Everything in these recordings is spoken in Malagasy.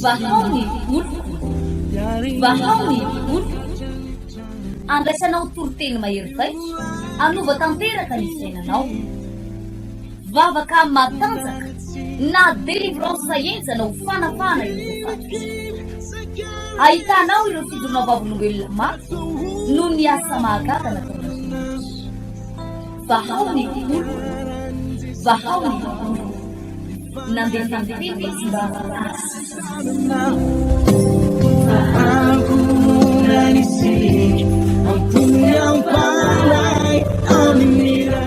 Vahao ny oloko, vahao ny oloko, andraisanao toriteny mahery vaika, hanova tanteraka ny fiainanao. Vavaka matanjaka na délivrance henjana ho fanafahana ireo voafaty. Ahitanao ireo fijoroana vavolombelona mafy noho ny asa mahagaga nataon'Andriamanitra. Vahao ny olona, vahao ny olona. Nandefa ny tena izy mba hahasitranana ankohonany sy ampony ampanahy amin'ny ra.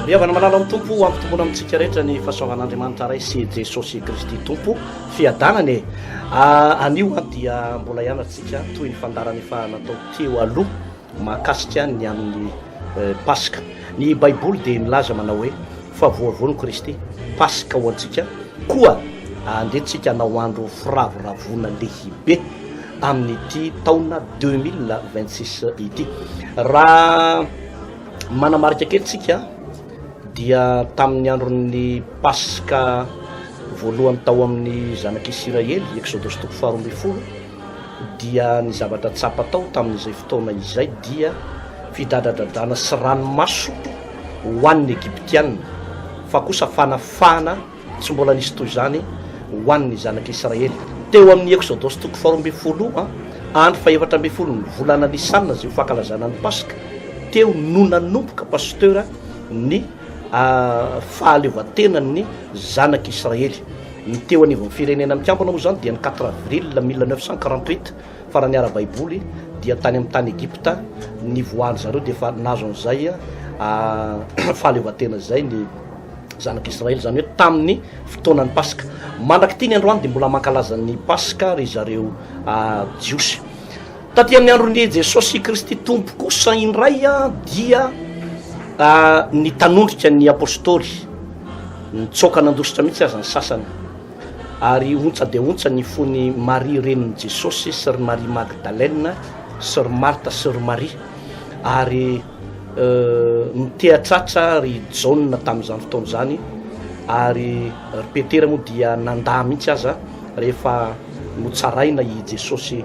Ry havana malala ao amin'ny Tompo, ho ampitomboina amintsika rehetra ny fahasoavan'Andriamanitra Ray sy i Jesosy Kristy Tompo fiadanana e! Anio an dia mbola hianatra tsika toy ny fandaharana efa natao teo aloha. Mahakasika ny amin'ny Paska, ny Baiboly dia milaza manao hoe, Fa voavono Kristy, Paska ho antsika, koa andeha tsika hanao andro firavoravoana lehibe amin'ity taona deux mille vingt six ity. Raha manamarika kely tsika dia tamin'ny andron'ny Paska voalohany tao amin'ny zanak'Isiraely, Eksodosy toko faharoa ambin'ny folo, dia ny zavatra tsapa tao tamin'izay fotoana izay dia fidradradradrana sy ranomaso ho an'ny Egyptiana, fa kosa fanafahana tsy mbola nisy toy izany ho an'ny zanak'Israely. Teo amin'ny Eksodosy toko faharoa ambin'ny folo, andro fahefatra ambin'ny folon'ny volana Nisana, izay ho fankalazana ny Paska, teo no nanomboka, Pasteur, ny. fahaleovantena ny Zanak'i Israely. Ny teo anivon'ny Firenena Mikambana moa izany dia ny quatre avril mille neuf cent quarante huit, fa raha ny ara-baiboly dia tany amin'ny tany Egypta nivoahan-dry zareo dia efa nahazo an'izay fahaleovantena izay ny Zanak'i Israely, izany hoe tamin'ny fotoanan'ny Paska. Mandrak'ity ny androany dia mbola mankalaza ny Paska ry zareo Jiosy. Taty amin'ny andron'i Jesosy Kristy Tompo kosa indray dia nitanondrika ny Apôstôly, nitsoaka nandositra mihitsy aza ny sasany. Ary ontsa dia ontsa ny fon'i Maria renin'i Jesosy sy ry Maria Magdalena sy ry Marta sy ry Maria. Ary nitehatratra ry Jaona tamin'izany fotoana izany ary ry Petera moa dia nandà mihitsy aza rehefa notsaraina i Jesosy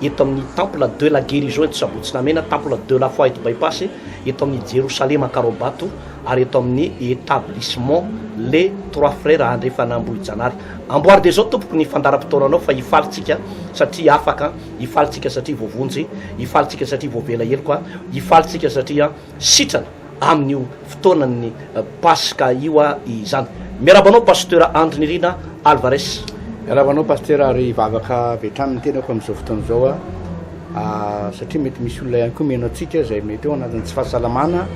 eto amin'ny Temple de la Guérison eto Sabotsinamena, Temple de la Foi eto Bypass, eto amin'ny Jerosalema Ankaraobato ary eto amin'ny Etablissement Les Trois Frères Andrefana Ambohijanary. Amboary dia izao tompoko ny fandaharam-potoananao fa hifaly tsika satria afaka, hifaly tsika satria voavonjy, hifaly tsika satria voavela heloka, hifaly tsika satria. sitrana amin'io fotoanan'ny Paska io aho izany. Miarahaba anao Pasteur Andry Nirina Alvarez. Miarahaba anao Pasteur ary hivavaka avy hatrany ny tenako amin'izao fotoana izao aho satria mety misy olona ihany koa miheno antsika izay mety eo anatin'ny tsy fahasalamana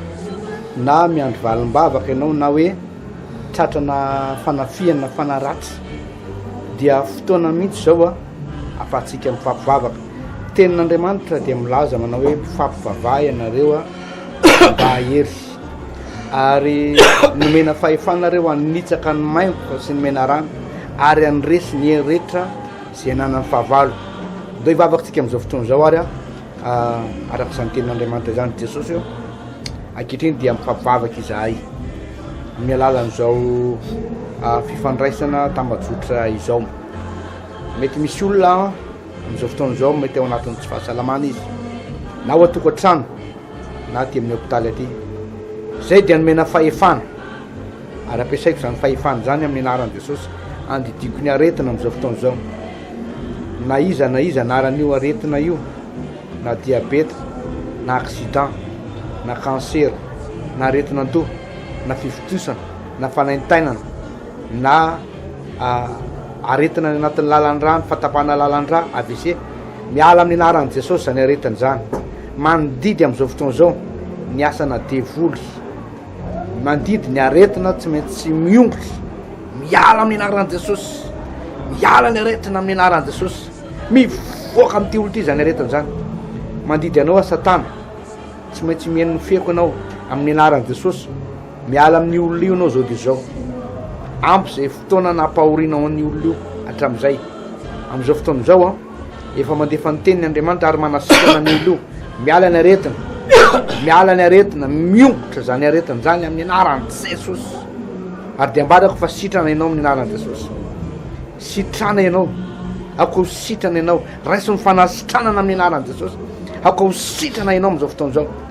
na miandry valim-bavaka ianao na hoe tratrana fanafihana fanaratsy dia fotoana mihitsy izao aho afahantsika mifampivavaka. Tenin'Andriamanitra dia milaza manao hoe mpifampivavaha ianareo mba hahery, ary nomena fahefana nareo hanitsaka ny maimboka sy ny menarana, ary handresy ny hery rehetra izay ananan'ny fahavalo. Ndao hivavaka isika amin'izao fotoana izao ary ah, araka izany tenin'Andriamanitra izany ry Jesosy ô, ankehitriny dia mifampivavaka izahay amin'ny alalan'izao ah, fifandraisana tambajotra izao. Mety misy olona Amin'izao fotoana izao mety ao anatin'ny tsy fahasalamana izy na ao an-tokantrano na aty amin'ny hopitaly aty. Izay dia nomena fahefana ary ampiasaiko izany fahefana izany amin'ny anaran'i Jesosy handidiako ny aretina amin'izao fotoana izao. Na iza na iza anaran'io aretina io na diabeta na accident na kansera na aretina an-doha na fifontosana na fanaintainana na Aretina any anatin'ny lalan-drà ny fahatapahana lalan-drà, avc. Miala amin'ny anaran'i Jesosy izany aretina izany. Mandidy amin'izao fotoana izao ny asana devoly. Mandidy ny aretina tsy maintsy miongotra. Miala amin'ny anaran'i Jesosy. Miala ny aretina amin'ny anaran'i Jesosy. Mivoaka amin'ity olona ity izany aretina izany. Mandidy anao aho Satana. Tsy maintsy mihaino ny feoko ianao amin'ny anaran'i Jesosy. Miala amin'io olona io ianao zao dia zao. Ampy izay fotoana nampahorianao an'io olona io hatramin'izay. Amin'izao fotoana izao an, efa mandefa ny teniny Andriamanitra ary manasitrana ny olona io. Miala ny aretina. Miala ny aretina. Miongotra izany aretina izany amin'ny anaran'i Jesosy. Ary dia ambarako fa sitrana ianao amin'ny anaran'i Jesosy. Sitrana ianao. Ako ho sitrana ianao. Raiso ny fanasitranana amin'ny anaran'i Jesosy. Ako ho sitrana ianao amin'izao fotoana izao.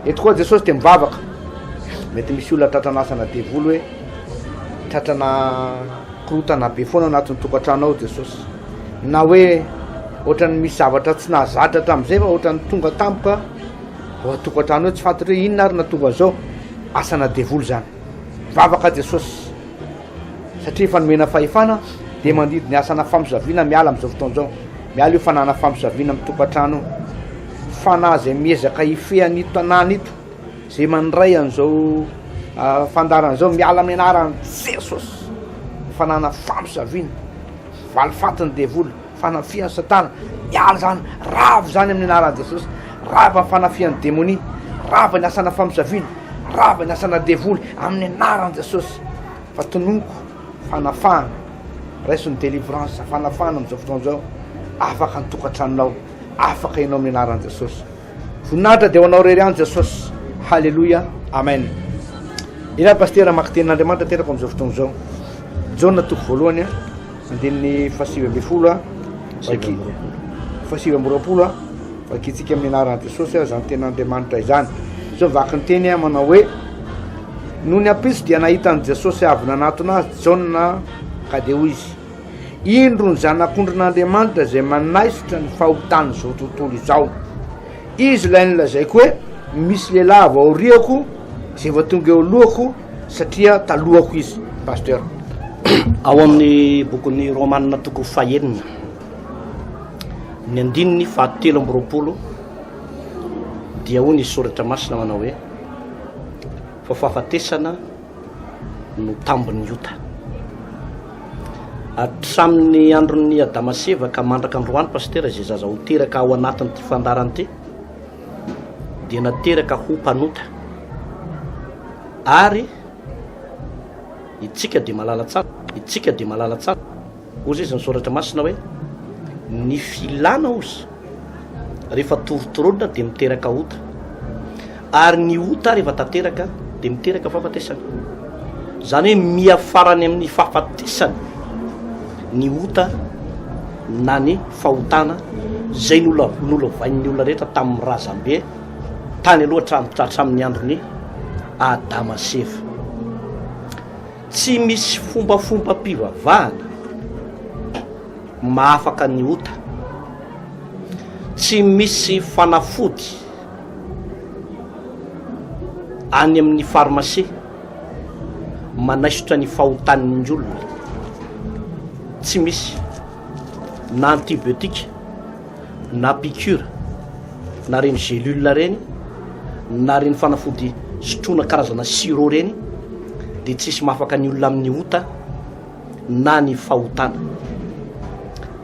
Eto koa Jesosy dia mivavaka. Mety misy olona tratra an'asana devoly hoe tratrana korotana be foana anatin'ny tokantrano ao Jesosy. Na hoe ohatran'ny misy zavatra tsy nahazatra hatramin'izay fa ohatran'ny tonga tampoka ao an-tokantrano hoe tsy fantatro hoe inona ary nahatonga an'izao. Asana devoly izany. Mivavaka Jesosy. satria efa nomena fahefana dia mandidy ny asana famosaviana miala amin'izao fotoana izao, miala io fananana famosaviana amin'ny tokantrano io, fanahy izay miezaka hifehy an'ito tanàna ito, izay mandray an'izao fandaharana izao, miala amin'ny anaran'i Jesosy, fananana famosaviana, valifatin'ny devoly. Fanafihan'i Satana. Miala izany. Rava izany amin'ny anaran'i Jesosy. Rava ny fanafihan'ny demonia. Rava ny asana famosaviana. Rava ny asana devoly amin'ny anaran'i Jesosy. Fa tononiko fanafahana. Raiso ny délivrance, fanafahana amin'izao fotoana izao. Afaka ny tokantranonao. Afaka ianao amin'ny anaran'i Jesosy. Voninahitra dia ho anao rery any Jesosy. Haleloia. Amen. Ila pasteur maka tenin'Andriamanitra terako amin'izao fotoana izao. Jaona toko voalohany a. Andininy fahasivy ambin'ny folo a. Vaki. Fahasivy amby roapolo a. Vakintsika amin'ny anaran'i Jesosy a izany tenin'Andriamanitra izany. Izao vaky ny teny a manao hoe Nony ampitso dia nahita an'i Jesosy avy nanatona azy Jaona ka dia hoy izy Indro ny Zanak'ondrin'Andriamanitra izay manaisotra ny fahotan'izao tontolo izao. Izy ilay nilazaiko hoe misy lehilahy avy aoriako izay efa tonga eo alohako satria talohako izy, Pasteur. Ao amin'ny bokin'ny Romanina toko fahenina, ny andininy fahatelo amby roapolo dia hoy ny Soratra Masina manao hoe, Fa fahafatesana no tambin'ny ota. Hatramin'ny andron'ny Adama sy Eva ka mandraka androany pasitera izay zaza ho teraka ao anatin'ity fandarana ity dia nateraka ho mpanota ary itsika dia malala tsara itsika dia malala tsara Hoy izy ny Soratra Masina hoe, Ny filana hoy, rehefa torotoronina dia miteraka ota, ary ny ota rehefa tanteraka dia miteraka fahafatesana. Izany hoe miafara any amin'ny fahafatesana ny ota na ny fahotana izay nolovain'ny olona rehetra tamin'ny razambe tany aloha hatramin'ny andron'i Adama sy Eva. Tsy misy fombafombam-pivavahana mahafaka ny ota. Tsy misy fanafody any amin'ny pharmacie manaisotra ny fahotan'ny olona. Tsy misy na antibiotique. na piqûre na reny gélule reny na reny fanafody sotroina karazana sirop reny dia tsisy mahafaka ny olona amin'ny ota na ny fahotana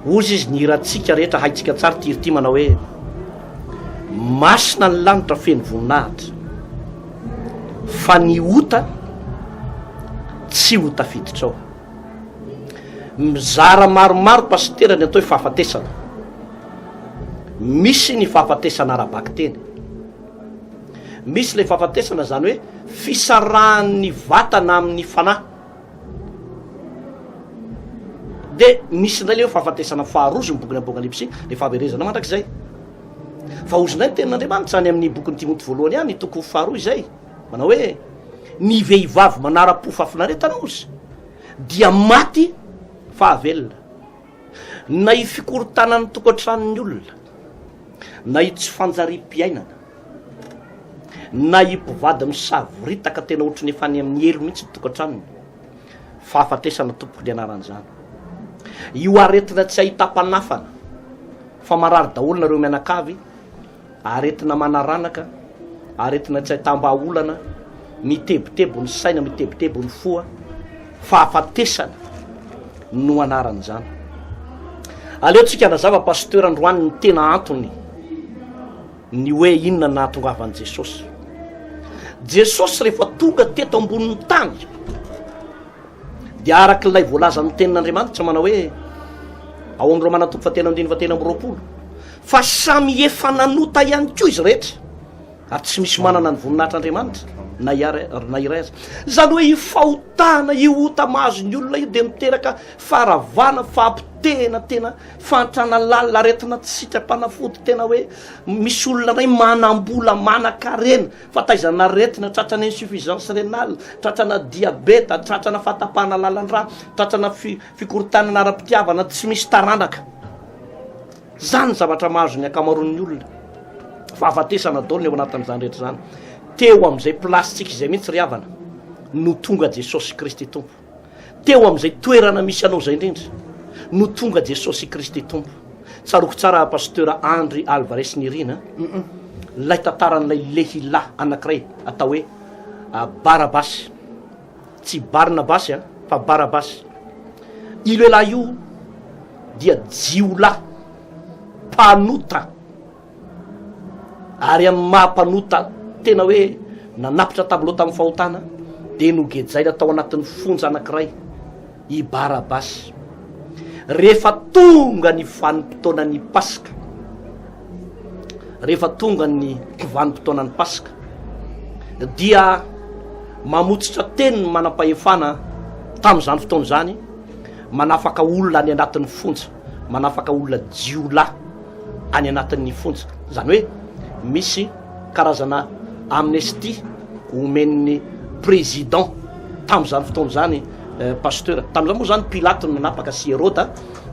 ozy izy ny hirantsika rehetra haitsika tsara ty irity manao hoe masina ny lanitra feno voninahitra fa ny ota tsy ho tafiditrao Mizara maromaro Pasitera ny atao hoe fahafatesana. Misy ny fahafatesana ara-bakiteny. Misy ilay fahafatesana izany hoe fisarahan'ny vatana amin'ny fanahy. Dia misy indray ilay hoe fahafatesana faharoa izy ny bokin'ny Apokalypsy, ny fahaverezana mandrakizay. Fa hozy indray ny tenin'Andriamanitra any amin'ny bokin'ny Timoty voalohany any, toko faharoa izay. Manao hoe ny vehivavy manara-po fahafinaretana ozy dia maty fa avelona. Na i fikorontanan'ny tokantranon'ny olona, na i tsy fanjariam-piainana, na i mpivady misavoritaka tena ohatran'ny efa any amin'ny helo mihitsy ny tokantranony. Fahafatesana tompoko ny anaran'izany. Io aretina tsy ahitam-panafana fa marary daholo nareo mianakavy. Aretina manaranaka, aretina tsy ahitam-bahaolana, mitebiteby ny saina, mitebiteby ny foa, fahafatesana no anaran'izany. Aleontsika hanazava Pasteur androany ny tena antony ny hoe inona ny nahatongavan'i Jesosy. Jesosy rehefa tonga teto ambonin'ny tany dia araka ilay voalazan'ny tenin'Andriamanitra manao hoe ao amin'ny Romana toko fahatelo andininy fahatelo amby roapolo Fa samy efa nanota ihany koa izy rehetra, ary tsy misy manana ny voninahitr'Andriamanitra na iray na iray aza. Izany hoe io fahotana, io ota mahazo ny olona io dia miteraka faharavana, fahapotehina tena, fahantrana lalina, aretina tsy sitrapanafody tena hoe misy olona iray manam-bola, manan-karena fa taizana aretina, tratrana insuffisance rénale, tratrana diabeta, tratrana fahatapahana lalan-drà, tratrana fi-fikorontanana ara-pitiavana, tsy misy taranaka. Izany ny zavatra mahazo ny ankamaroan'ny olona. Fahafatesana daholo ny ao anatin'izany rehetra izany. Teo amin'izay plasintsika izay mihitsy ry havana no tonga Jesosy Kristy Tompo. Teo amin'izay toerana misy anao izay indrindra no tonga Jesosy Kristy Tompo. Tsaroako tsara Pasteur Andry Alvarez Nirina, ilay tantaran'ilay lehilahy anankiray atao hoe Barabasy. Tsy Barnabasy a, fa Barabasy. Io lehilahy io dia jiolahy mpanota, ary amin'ny maha mpanota tena hoe nanapitra tableau tamin'ny fahotana dia nogejaina tao anatin'ny fonja anankiray. i Barabasy. Rehefa tonga ny vanim-potoanan'ny Paska, rehefa tonga ny vanim-potoanan'ny Paska, dia mamotsitra teny ny manam-pahefana tamin'izany fotoana izany, manafaka olona any anatin'ny fonja. manafaka olona jiolahy any anatin'ny fonja. Izany hoe misy karazana amnestie omen'ny président tamin'izany fotoana izany eh, pasteur. Tamin'izany moa zany Pilato no nanapaka sy Heroda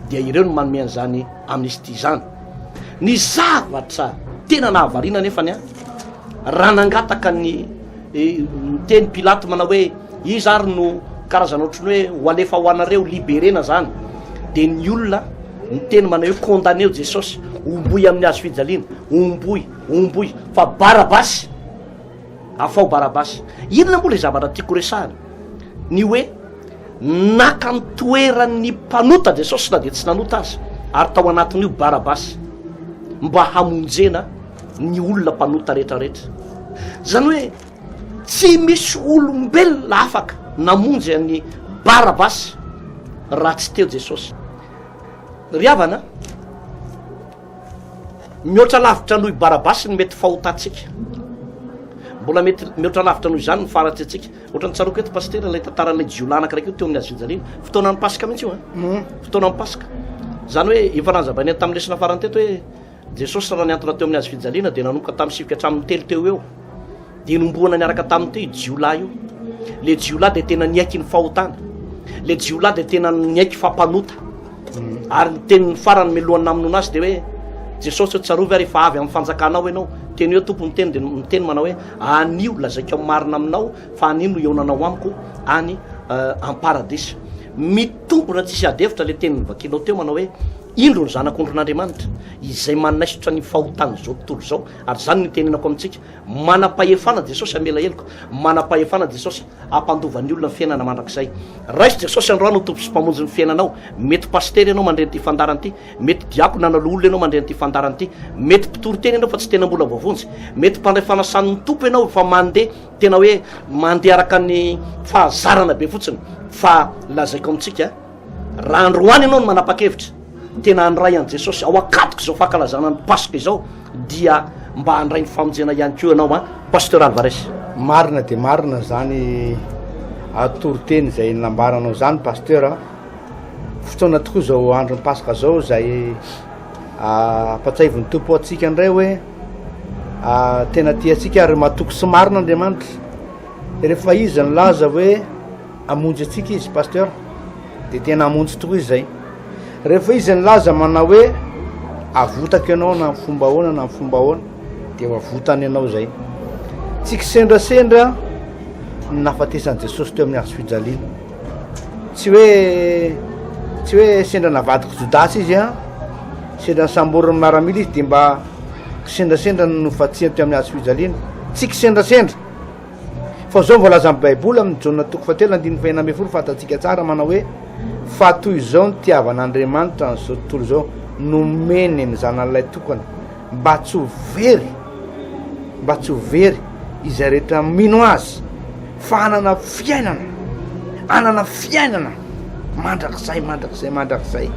dia ireo no manome an'izany amnestie izany. Ny zavatra tena nahavariana nefa ny ahy raha nangataka ny eh, teny Pilato manao hoe Iza ary no karazana ohatran'ny hoe ho alefa ho anareo liberena zany? Dia ny olona miteny manao hoe condamné o Jesosy, omboy amin'ny hazo fijaliana, omboy, omboy, fa Barabasy, afao Barabasy. Inona moa ilay zavatra tiako horesahana? Ny hoe naka ny toeran'ny mpanota Jesosy na dia tsy nanota aza, ary tao anatin'io Barabasy, mba hamonjena ny olona mpanota rehetra rehetra. Izany hoe Tsy misy olombelona afaka namonjy an'i Barabasy raha tsy teo Jesosy. Ry havana, mihoatra lavitra noho i Barabasy ny mety fahotantsika. Mbola mety mihoatra lavitra noho izany ny faratry antsika. Ohatran'ny tsaroako eto pasitera ilay tantaran'ilay jiolahy anankiray koa teo amin'ny hazofijaliana. Fotoanan'ny Paska mihitsy io an. Fotoanan'ny Paska. Izany hoe efa nanazavainay tamin'ny lesona farany teto hoe Jesosy raha niantona teo amin'ny hazofijaliana dia nanomboka tamin'ny sivy ka hatramin'ny telo teo eo dia nombohana niaraka taminy teo io jiolahy io. Le jiolahy dia tena niaiky ny fahotana. Le jiolahy dia tena niaiky fa mpanota. Mm. Ary ny tenin'ny farany melohan'ny namonoana azy dia hoe Jesosy hoe tsarovy ary efa avy amin'ny fanjakanao ianao. Teny hoe tompo miteny dia miteny manao hoe anio lazaiko amin'ny marina aminao fa anio no eonanao amiko any euh, am-paradisa. Mitombona tsisy adefitra le teny vakinao teo manao hoe Indro ny Zanak'ondrin'Andriamanitra, izay manaisotra ny fahotan'izao tontolo izao. Ary izany no itenenako amintsika, manam-pahefana Jesosy hamela heloka, manam-pahefana Jesosy hampandova ny olona ny fiainana mandrakizay. Raiso Jesosy androany ho Tompo sy Mpamonjy ny fiainanao. Mety pasitera ianao mandre an'ity fandaharana ity, mety diakona na loholona ianao mandre an'ity fandaharana ity, mety mpitory teny ianao fa tsy tena mbola voavonjy, mety mpandray fanasan'ny Tompo ianao fa mandeha tena hoe mandeha araka ny fahazarana be fotsiny, fa lazaiko amintsika, Raha androany ianao no manapa-kevitra tena handray an'i Jesosy ao an-katoko izao fankalazana ny Paska izao dia mba handray ny famonjena ihany koa ianao a Pasteur Alvarez. Marina dia marina izany atoriteny izay nambaranao izany Pasteur a. Fotoana tokoa izao andron'ny Paska izao izay ampatsahivon'ny Tompo antsika indray hoe tena tiantsika ary matoky sy marina Andriamanitra. Rehefa izy nilaza hoe Hamonjy antsika izy pasteur de tena hamonjy tokoa izay rehefa izy nilaza manao hoe avotako ianao na fomba ahoana na fomba ahoana de ho avotany ianao izay tsy kisendrasendra ny nafatesan'i Jesosy teo amin'ny hazo fijaliana tsy hoe tsy hoe sendra navadiko Jodasy izy a sendra nisamborin'ny maramila izy de mba kisendrasendra ny nofatsihany teo amin'ny hazo fijaliana tsy kisendrasendra Fa izao no voalazan'ny Baiboly amin'ny Jaona toko fahatelo andininy fahenina ambin'ny folo, Fantatsika tsara manao hoe, Fa toy izao ny tiavan'Andriamanitra an'izao tontolo izao, nomeny ny Zanan'ilay tokana, mba tsy ho very, mba tsy ho very izay rehetra mino azy, fa hanana fiainana, hanana fiainana mandrakizay, mandrakizay, mandrakizay.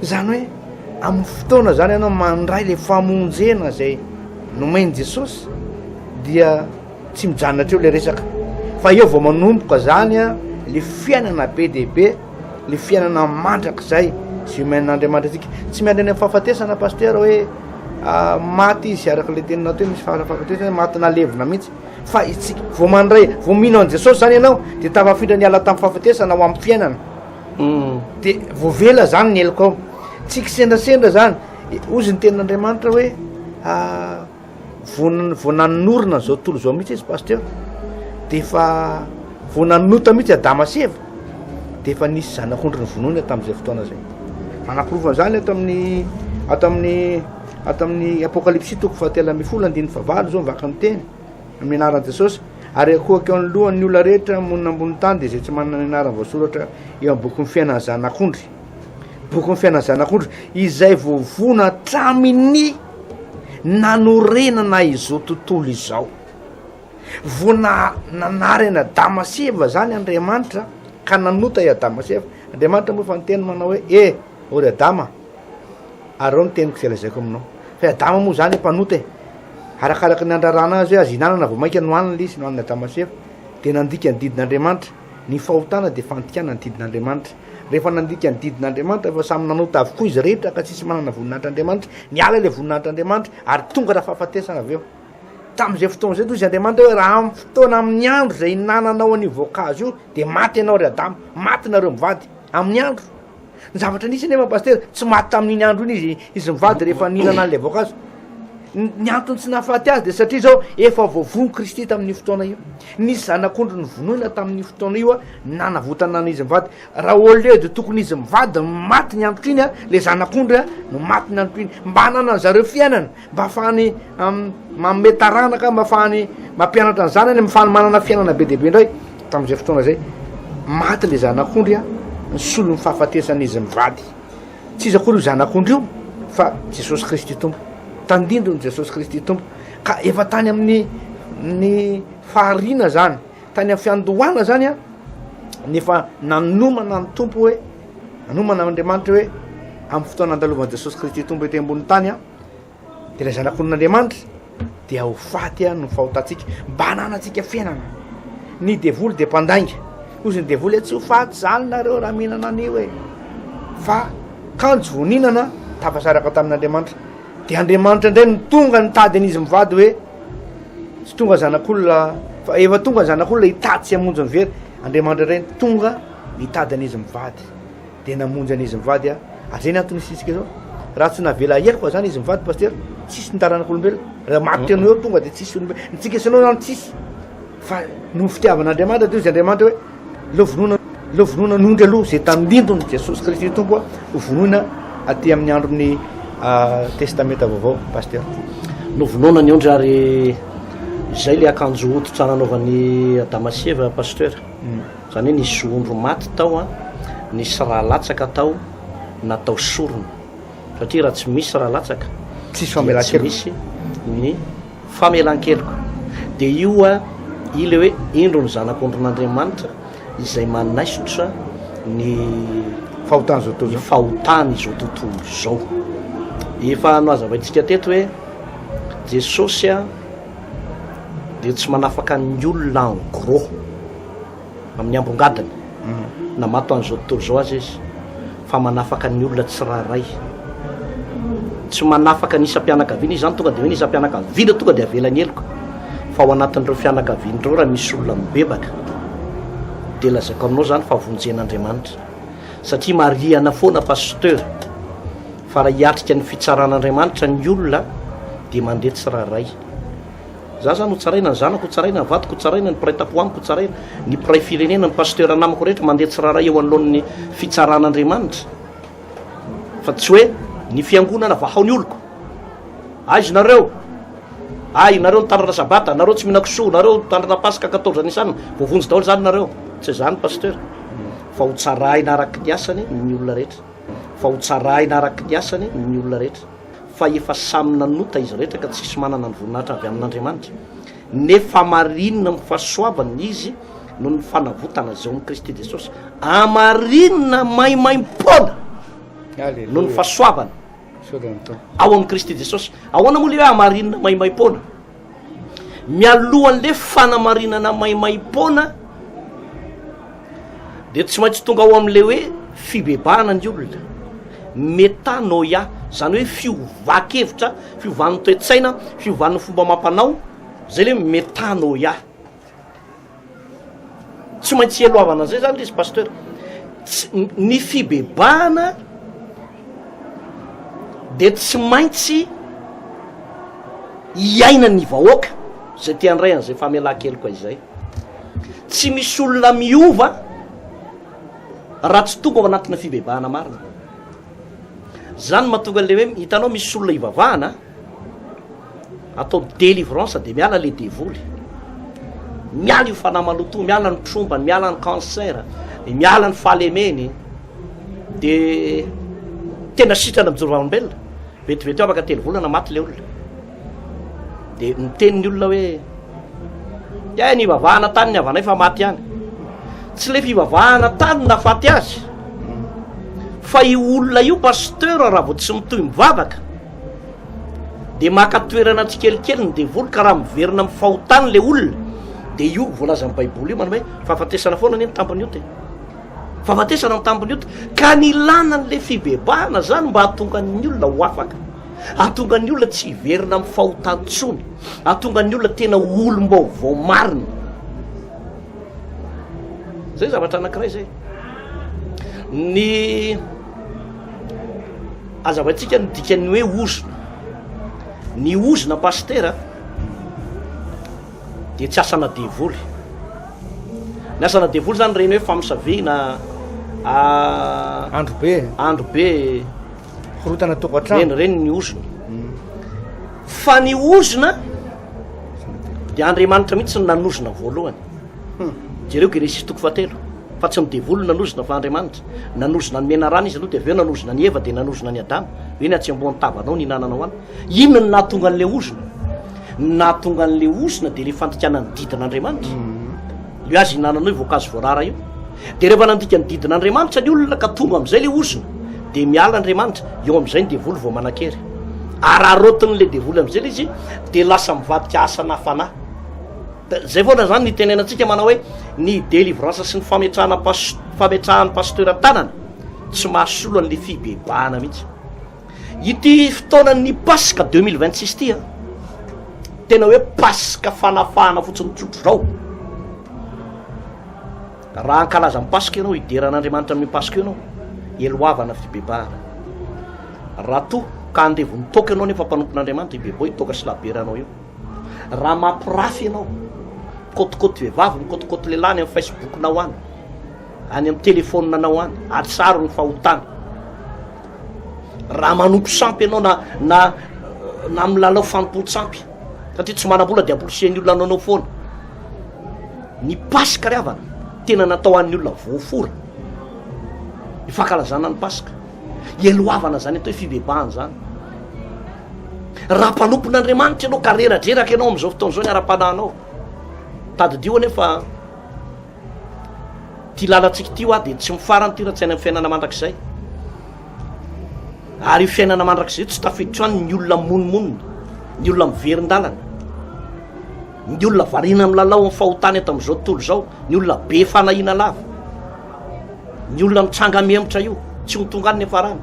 Izany hoe, Amin'ny fotoana izany ianao mandray ilay famonjena izay nomen'i Jesosy dia tsy mijanona teo ilay resaka fa eo vao manomboka izany a le fiainana be dia be le fiainana mandrakizay izay omen'Andriamanitra antsika tsy miandry any amin'ny fahafatesana pasteur hoe ah, maty izy araka ilay teninao teo misy fahafatesana maty nalevina mihitsy fa itsika vao mandray vao mino an'i Jesosy izany ianao dia tafafindra niala tamin'ny fahafatesana ho amin'ny fiainana dia voavela izany ny helokao, tsy kisendrasendra izany, hozy ny tenin'Andriamanitra hoe ah, vao vao nanorina izao tontolo izao mihitsy izy pasteur dia efa vao nanota mihitsy adama sy eva dia efa nisy zanak'ondry ny vonoina tamin'izay fotoana izay manaporofo an'izany ato amin'ny ato amin'ny ato amin'ny apokalypsy toko fahatelo ambin'ny folo andininy fahavalo izao mivaka miteny amin'ny anaran'i Jesosy, ary akohaka eo anoloan'ny olona rehetra monina ambonin'ny tany, dia izay tsy manana ny anarany voasoratra eo amin'ny bokin'ny fiainan'ny Zanak'ondry, bokin'ny fiainan'ny Zanak'ondry, izay voavono hatramin'ny nanorenana izao tontolo izao. Vao na, nanary an'i Adama sy Eva izany Andriamanitra, ka nanota i Adama sy Eva. Andriamanitra moa efa niteny manao hoe, E, ô ry Adama, Areo ny teniko izay lazaiko aminao. Fa i Adama moa izany mpanota e! Arakaraka ny handrarana azy hoe azo ihinanana vao mainka nohanina ilay izy, nohanin'i Adama sy Eva. Dia nandika ny didin'Andriamanitra. Ny fahotana dia fandikana ny didin'Andriamanitra. Rehefa nandika ny didin'Andriamanitra fa samy nanota avokoa izy rehetra ka tsisy manana voninahitr'Andriamanitra, niala ilay voninahitr'Andriamanitra ary tonga raha fahafatesana avy eo. Tamin'izay fotoana izay toa izy Andriamanitra hoe raha amin'ny fotoana amin'ny andro izay ihinananao an'io voankazo io dia maty ianao ry Adama, maty nareo mivady. Amin'ny andro. ny zavatra nisy nefa pasitera tsy maty tamin'iny andro iny izy izy mivady rehefa nihinana an'ilay voankazo ny antony tsy nahafaty azy de satria zao efa voavono kristy tamin'ny fotoana io nisy zanak'ondry ny vonoina tamin'ny fotoana io a nanavotana an'izy mivady raha au lieu de tokony izy mivady maty ny androtro iny a le zanak'ondry a no maty ny androtro iny mba hananan'zareo fiainana mba afahany manome taranaka, mba afahany mampianatra ny zanany amin'ny fanomanana fiainana be dia be indray, tamin'izay fotoana izay, maty ilay zanak'ondry an, ny solon'ny fahafatesan'izy mivady. Tsy iza akory io zanak'ondry io fa Jesosy Kristy Tompo. Tandindon'i Jesosy Kristy Tompo. Ka efa tany amin'ny ny fahariana zany, tany amin'ny fiandohana zany an, nefa nanomana ny Tompo hoe, nanomana Andriamanitra hoe, amin'ny fotoana andalovan'i Jesosy Kristy Tompo ety ambony tany an, Ilay zanak'olon'Andriamanitra dia ho faty any ny fahotantsika mba hananantsika fiainana. Ny devoly dia mpandainga. Hozy ny devoly hoe tsy ho faty zany nareo raha mihinana an'io e. Fa kanjo vao nihinana tafasaraka tamin'Andriamanitra. Dia Andriamanitra indray no tonga nitady an'izy mivady hoe tsy tonga zanak'olona fa efa tonga ny zanak'olona hitady sy hamonjy ny very. Andriamanitra indray tonga nitady an'izy mivady. Dia namonjy an izy mivady aho. Ary zay ny antony hisitrika zao. Raha tsy navela aheriko fa zany izy mivady Pasteur, tsisy ny taranak'olombelona. Raha maty anao eo tonga dia tsisy olombelona. Ny tsika sy anao zany tsisy. Fa noho fitiavan'Andriamanitra teo izy Andriamanitra hoe aleo vonoina aleo vonoina nondry aloha zay tandindon'i Jesosy Kristy Tompo a, ho vonoina aty amin'ny andron'ny Testamenta Vaovao Pasteur. Novonoina ny ondry ary izay ilay akanjo hoditra nanaovan'i Adama sy Eva Pasteur. Izany hoe nisy zohondry maty tao an, nisy rà latsaka tao natao sorona. Satria raha tsy misy rà latsaka dia tsy misy ny famelan-keloka. Dia io an, io ilay hoe indro ny zanak'ondrin'Andriamanitra izay manaisotra ny fahotan'izao tontolo izao. Efa nohazavaintsika teto hoe Jesosy an dia tsy manafaka ny olona en gros. Amin'ny ambongadiny, namato an'izao tontolo izao aza izy fa manafaka ny olona tsirairay. Tsy manafaka ny isam-pianakaviana izy, izany tonga dia hoe ny isam-pianakaviana tonga dia avela ny heloka. Fa ao anatin'ireo fianakaviana ireo raha misy olona mibebaka dia lazaiko aminao izany fa vonjen'Andriamanitra. Satria marihana foana Pasteur fa raha hiatrika ny fitsaran'Andriamanitra ny olona dia mandeha tsirairay. Za zany ho tsaraina, ny zanako ho tsaraina, ny vadiko ho tsaraina, ny mpiray tampo amiko ho tsaraina, ny mpiray firenena, ny pasitera namako rehetra mandeha tsirairay eo anoloan'ny fitsaran'Andriamanitra. Fa tsy hoe ny fiangonana vahao ny oloko. Aiza nareo? Ay, nareo nitandrina sabata, nareo tsy mihinan-kisoa, nareo nitandrina paska quatorze anisan, voavonjy daholo zany nareo. Tsy izany pasteur. Fa ho tsaraina araky ny asany ny olona rehetra. Fa ho tsaraina araky ny asany ny olona rehetra. fa efa samy nanota izy rehetra ka tsisy manana ny voninahitra avy amin'Andriamanitra, nefa marinina amin'ny fahasoavany izy noho ny fanavotana izay ao amin'i Kristy Jesosy, hamarinina maimaimpoana noho ny fahasoavana ao amin'i Kristy Jesosy. Ahoana moa ilay hoe hamarinina maimaimpoana? Mialohan'le fanamarinana maimaim-poana dia tsy maintsy tonga ao amin'le hoe fibebahana ny olona, metanoia, zany hoe fiovan-kevitra, fiovan'ny toe-tsaina, fiovan'ny fomba amam-panao, zay le metanoia. Tsy maintsy ialohavana an'izay zany lesy Pasteur. Tsy, ny fibebahana dia tsy maintsy iainan'ny vahoaka izay te handray an'izay famelan-keloka izay. Tsy misy olona miova raha tsy tonga ao anatina fibebahana marina. Zany mahatonga an'ilay hoe, hitanao misy olona ivavahana, Atao délivrance de miala le devoly. Miala io fanahy maloto, miala ny trombany, miala ny cancer, miala ny fahalemeny. De tena sitrana mijoro vavolombelona. Vetivety afaka telo volana maty le olona. De miteny ny olona hoe Dia ny ivavahana tany ny havanay fa maty ihany. Tsy le fivavahana tany na faty azy. Fa io olona io pasteur raha vao tsy mitohy mivavaka dia maka toerana tsikelikely ny devoly ka raha miverina amin'ny fahotany le olona dia io voalazan'ny baiboly io manome fahafatesana foana anie ny tambiny ota e fahafatesana ny tambiny ota ka ny ilana an'le fibebahana zany mba hahatonga ny olona ho afaka ahatonga ny olona tsy hiverina amin'ny fahotantsony ahatonga ny olona tena olom-baovao marina zay zavatra anankiray zay ny Azavaintsika ny dikan'ny hoe ozona. Ny ozona pasitera dia tsy asana devoly. Ny asana devoly zany reny hoe famosavina andro be andro be horotana tokantrano reny ny ozona. Mm. Fa ny ozona dia Andriamanitra mihitsy ny nanozona voalohany. Hmm. Jereo Genesisy toko fahatelo. fa tsy ny devoly nanozona fa Andriamanitra, nanozona an'i Menarana izy aloha dia avy eo nanozona an'i Eva dia nanozona an'i Adama, hoe ny atsembohan'ny tavanao ny hinananao any, inona no nahatonga an'ilay ozona? Ny nahatonga an'ilay ozona dia ilay fandikana ny didin'Andriamanitra, mhm. ilay azy hinananao io voankazo voarara io, dia rehefa nandika ny didin'Andriamanitra ny olona ka tonga amin'izay ilay ozona, dia miala Andriamanitra, eo amin'izay ny devoly vao manan-kery, araraotin'ilay devoly amin'izay ilay izy dia lasa mivadika asana fanahy, Da zay foana zany ny tenenantsika manao hoe ny delivrance sy ny fametrahana fametrahan'ny pasteur tanana tsy mahasolo an'le fibebahana mihitsy ity fotoanan'ny paska deux mille vingt six ty a tena hoe paska fanafahana fotsiny tsotro zao raha ankalaza ny paska ianao hideran'andriamanitra amin'ny paska ianao eloavana fibebahana raha toa ka andevon'ny toaka ianao nefa mpanompon'andriamanitra ibeboy toaka sy laberanao eo Raha mampirafy ianao, mikotikoti vehivavy, mikotikoti lehilahy any amin'ny Facebook-nao any, any amin'ny telefaoninanao any, atsaro ny fahotana. Raha manompo sampy ianao na na na milalao fanompoan-tsampy, satria tsy manam-bola dia ampolisian'ny olona anao foana. Ny Paska ry havana, tena natao an'ny olona voafora. Ny fankalazana ny Paska. Ialohavana izany atao hoe fibebahana izany. Raha mpanompon'Andriamanitra ianao ka reradreraka ianao amin'izao fotoana izao ny ara-panahinao, tadidio anie fa ty lalantsika ity hoa dia tsy mifarany ty raha tsy any amin'ny fiainana mandrakizay. Ary io fiainana mandrakizay tsy tafiditra any ny olona monimonina, ny olona miverin-dalana. Ny olona variana milalao amin'ny fahotany eto amin'izao tontolo izao, ny olona be fanahiana lava, ny olona mitranga mihemotra io, tsy ho tonga any ny farany.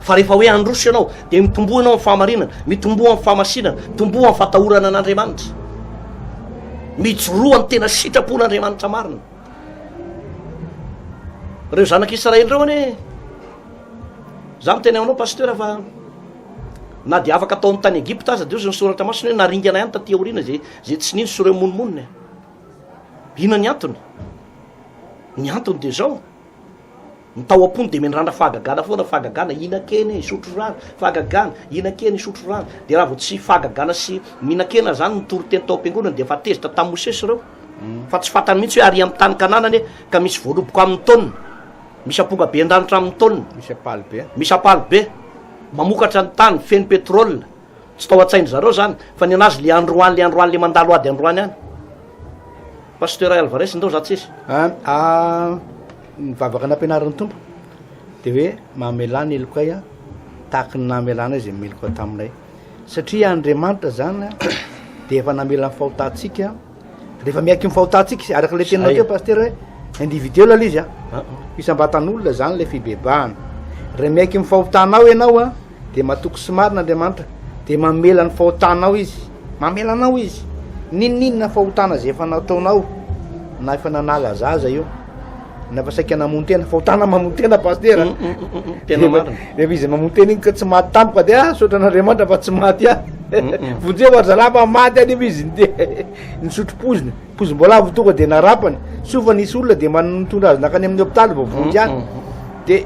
Fa rehefa hoe handroso ianao, dia mitomboa ianao amin'ny fahamarinana, mitomboa amin'ny fahamasinana, mitomboa amin'ny fatahorana an'Andriamanitra. Mijoroa ny tena sitrapon'Andriamanitra marina. Ireo zanak'Israely ireo anie, za miteny aminao pasteur fa Na dia afaka tao amin'ny tany Egypta aza, dia hoy ny Soratra Masina hoe naringana ihany taty aoriana izay izay tsy nino sy ireo mono monina. Inona ny antony? Ny antony dia izao. Ny tao am-pony dia mendrandra fahagagana foana, fahagagana, hihinan-kena e, hisotro rano, fahagagana, hihinan-kena, hisotro rano. Dia raha vao tsy fahagagana sy mihinan-kena izany no toriteny tao am-piangonana dia efa tezitra tamin'i Mosesy ireo. Fa tsy fantany mihitsy hoe ary amin'ny tany Kanana anie ka misy voaloboka amin'ny taonina. Misy amponga be an-danitra amin'ny taonina. Misy apaly be. Misy apaly be. Mamokatra ny tany, feno pétrole. Tsy tao an-tsain-dry zareo izany. Fa ny an'azy le androany, le androany, le mandalo ady androany any. Pasteur Alvarez ndao za tsisy. An, ah, ny vavaka nampianarin'ny Tompo dia hoe mamelà ny helokay an, tahaka ny namelànay izay meloka taminay. Satria Andriamanitra izany dia efa namela ny fahotantsika. Rehefa miaiky ny fahotantsika izy, araka ilay teninao teo Pasitera hoe individuel ilay izy an, isam-batan'olona izany ilay fibebahana. Raha miaiky ny fahotanao ianao an, dia matoky sy marina Andriamanitra, dia mamela ny fahotanao izy, mamela anao izy, n'inon'inona fahotana izay efa nataonao na efa nanala azy aza io. nafa saika namono tena fahotana mamono tena pastera mm, mm, mm, tena marina rehefa izy mamono tena iny ka tsy maty tampoka de ah sotra an'andriamanitra fa tsy maty ah vonje ho arzalapa maty anefa izy de nisotro pozina pozim-boalavo votoka de narapany soa fa nisy olona de manotondra azy nakany amin'ny hopitaly vao vonjy any de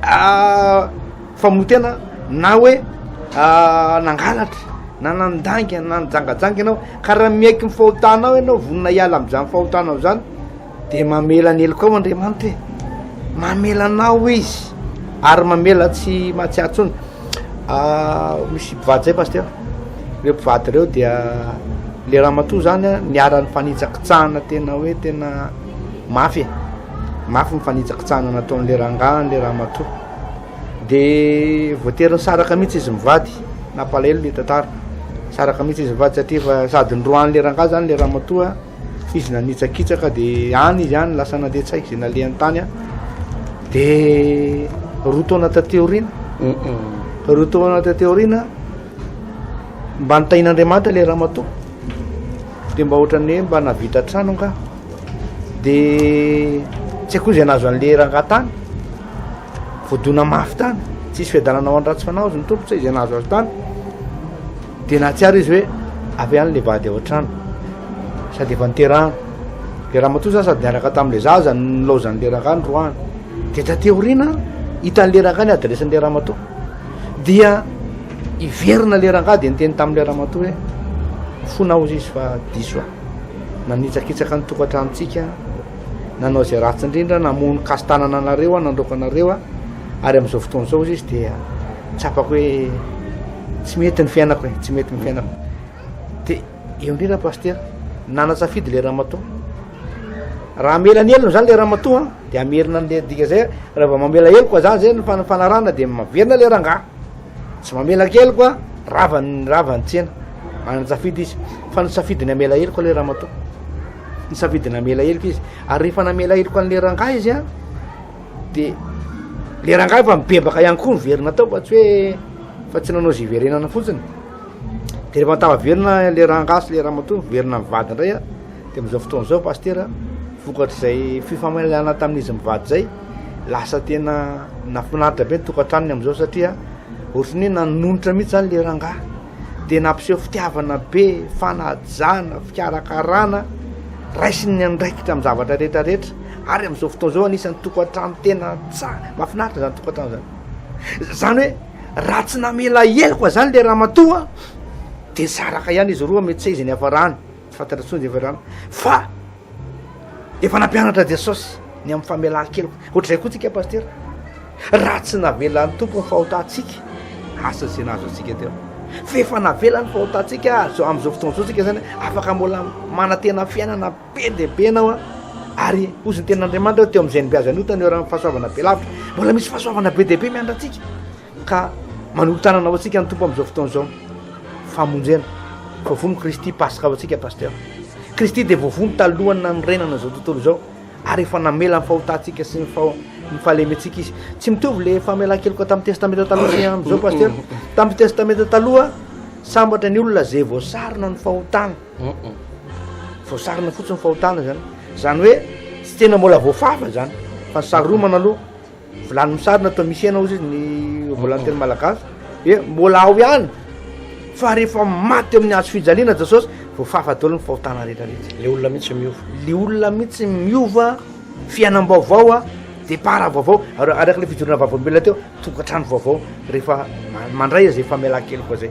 ah, Fa moa tena na hoe nangalatra na nandainga na nijangajanga ianao ka raha miaiky ny fahotanao ianao vonona hiala amin'izany fahotanao izany dia mamela ny helokao Andriamanitra e, mamela anao izy ary mamela tsy mahatsiaro intsony. Misy mpivady izay pasitera, ireo mpivady ireo dia le ramatoa izany a niharan'ny fanitsakitsahana tena hoe tena mafy e, mafy ny fanitsakitsahana nataon'le rangahy an'le ramatoa. Dia voatery nisaraka mihitsy izy mivady, nampalahelo le tantara. Nisaraka mihitsy izy mivady satria fa sady noroahan'le rangahy zany le ramatoa, izy nanitsakitsaka dia any izy any lasa nandeha tsy haiko zay nalehany tany an. Dia roa taona taty aoriana, roa taona taty aoriana mba nitahin'Andriamanitra le ramatoa. Dia mba ohatran'ny hoe mba nahavita trano angaha. Dia tsy haiko koa zay nahazo an'le rangahy tany. voadona mafy tany tsisy fiadanana ho any ratsy fanahy ozy ny tompo tsa izay nahazo azy tany dia nahatsiaro izy hoe avy any le vady ao an-trano sady efa niterahana le raha matoa zany sady niaraka tamin'la zaza nylaozan'ny leraka any roahany dia tateoriana hitan'ny leraka any adresiny le raha matoa dia hiverina le rangah dia nyteny tamin'la raha matoa hoe fona ozy izy fa diso a nanitsakitsaka ny tokantranontsika nanao izay ratsy indrindra namono kasin-tanana anareo aho nandroaka anareo a, ary amin'izao fotoana izao hozy izy dia tsapako hoe tsy mety ny fiainako e, tsy mety ny fiainako dia eo indrindra pasitera nanatsafidy le ramatoa raha amela ny helony zany le ramatoa dia amerina an'le dika zay raha vao mamela heloko a zany zay ny fanarana dia maverina le rangaha tsy mamelaka heloko a ravany ravany tsena manatsafidy izy fa nitsafidy ny amela heloko le ramatoa Nisafidy ny hamela heloka izy. Ary rehefa namela heloka an'ilay rangahy izy an, dia ilay rangahy efa mibebaka ihany koa ny very natao fa tsy hoe fa tsy nanao izay hiverenana fotsiny. Dia rehefa an-tahaverina ilay rangahy sy ilay ramatoa miverina ny vady indray an, dia amin'izao fotoana izao pasitera, vokatr'izay fifamelana tamin'izy mivady izay, lasa tena nahafinaritra be ny tokantranony amin'izao satria ohatran'ny hoe nanonitra mihitsy izany ilay rangahy. dia nampiseho fitiavana be, fanajana, fikarakarana, raisiny ny andraikitra amin'ny zavatra rehetra rehetra, ary amin'izao fotoana izao anisan'ny tokantrano tena tsara, mahafinaritra izany tokantrano izany. Izany hoe raha tsy namela heloka izany le ramatoa dia saraka ihany izy roa mety tsy izy ny hafarany. Tsy fantatra intsony dia efa-drano. Fa efa nampianatra Jesosy ny amin'ny famelan-keloka. Ohatr'izay koa tsika pasitera. Raha tsy navelan'ny tompo ny fahotantsika, asa izay nahazo antsika teo. Fa efa navela ny fahotantsika azo amin'izao fotoana izao tsika zany afaka mbola manantena fiainana be dia be anao a ary ozy ny tenan'Andriamanitra teo amin'izay nibiazan'ny otany eo raha fahasoavana be lavitra mbola misy fahasoavana be dia be miandratsika Ka manolo-tanana ho antsika ny Tompo amin'izao fotoana izao. Famonjena. Voavono Kristy Paska ho antsika Pasteur. Kristy dia voavono talohan'ny nanorenana izao tontolo izao ary efa namela ny fahotantsika sy ny ny fahalementsika izy. Tsy mitovy le famelan-keloka tamin'ny testamenta taloha sy amin'izao Pasteur. Tamin'ny testamenta taloha sambatra ny olona izay voasarona ny fahotana. Voasarona fotsiny ny fahotana izany. Izany hoe tsy tena mbola voafafa izany fa ny saromana aloha Vilany misarona toa misy hena ozy izy ny volanteny malagasy dia mbola ao ihany fa rehefa maty amin'ny hazo fijaliana jesosy voafafa daholo ny fahotana rehetra rehetra le olona mihitsy miova le olona mihitsy miova fiainam-baovao a départ vaovao araka le fijorona vavolombelona teo tokantrano vaovao rehefa mandray izay famelan-keloka zay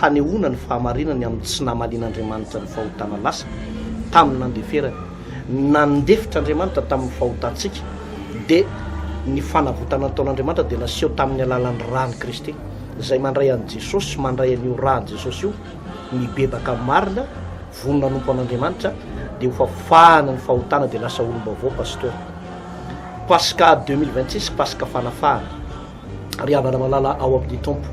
hanehoana ny fahamarinany amin'ny tsy namalian'Andriamanitra ny fahotana lasa tamin'ny nandeferany. Nandefitra Andriamanitra tamin'ny fahotantsika, dia ny fanavotana nataon'Andriamanitra dia naseho tamin'ny alalan'ny ran'i Kristy, izay mandray an'i Jesosy sy mandray an'io ran'i Jesosy io, mibebaka amin'ny marina, vonona hanompo an'Andriamanitra, dia ho fafahana ny fahotana dia lasa olom-baovao, Pastora. Paska 2026, Paska fanafahana. Ry havana malala ao amin'ny Tompo,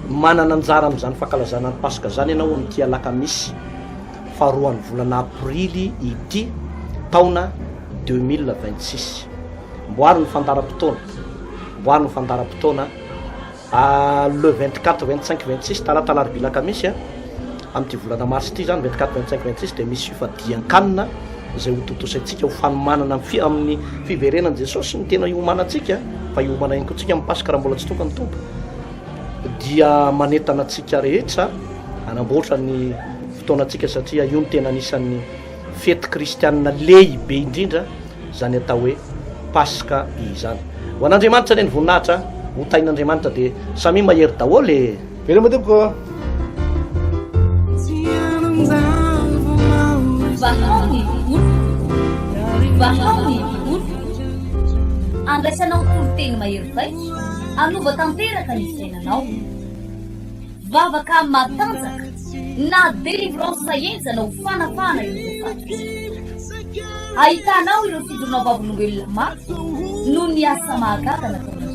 manana anjara amin'izany fankalazana ny Paska izany ianao amin'ity alakamisy faharoan'ny volana aprily ity taona 2026. Mboary ny fandaharam-potoana, mboary ny fandaharam-potoana le 24, 25, 26 talata alarobia alakamisy a. Amin'ity volana marsa ity izany, 24, 25, 26, dia misy fifadian-kanina izay hotontosaintsika ho fanomanana ny fi- amin'ny fiverenan'i Jesosy sy ny tena iomanantsika, fa hiomana ihany koa antsika amin'ny Paska raha mbola tsy tonga ny Tompo. Dia manentana antsika rehetra hanamboatra ny fotoanantsika satria io no tena anisan'ny fety kristianina lehibe indrindra izany atao hoe Paska izany. Ho an'Andriamanitra anie ny voninahitra, ho tahin'Andriamanitra dia samia mahery daholo e! Veloma tompoko ô! Vahao ny oloko, vahao ny oloko, andraisanao toriteny mahery vaika, anova tanteraka ny fiainanao. Vavaka matanjaka na délivrance enjana ho fanafahana ireo fahatrisa. Ahitanao ireo fidronao vavolombelona mafy noho ny asa mahagaga nataonao.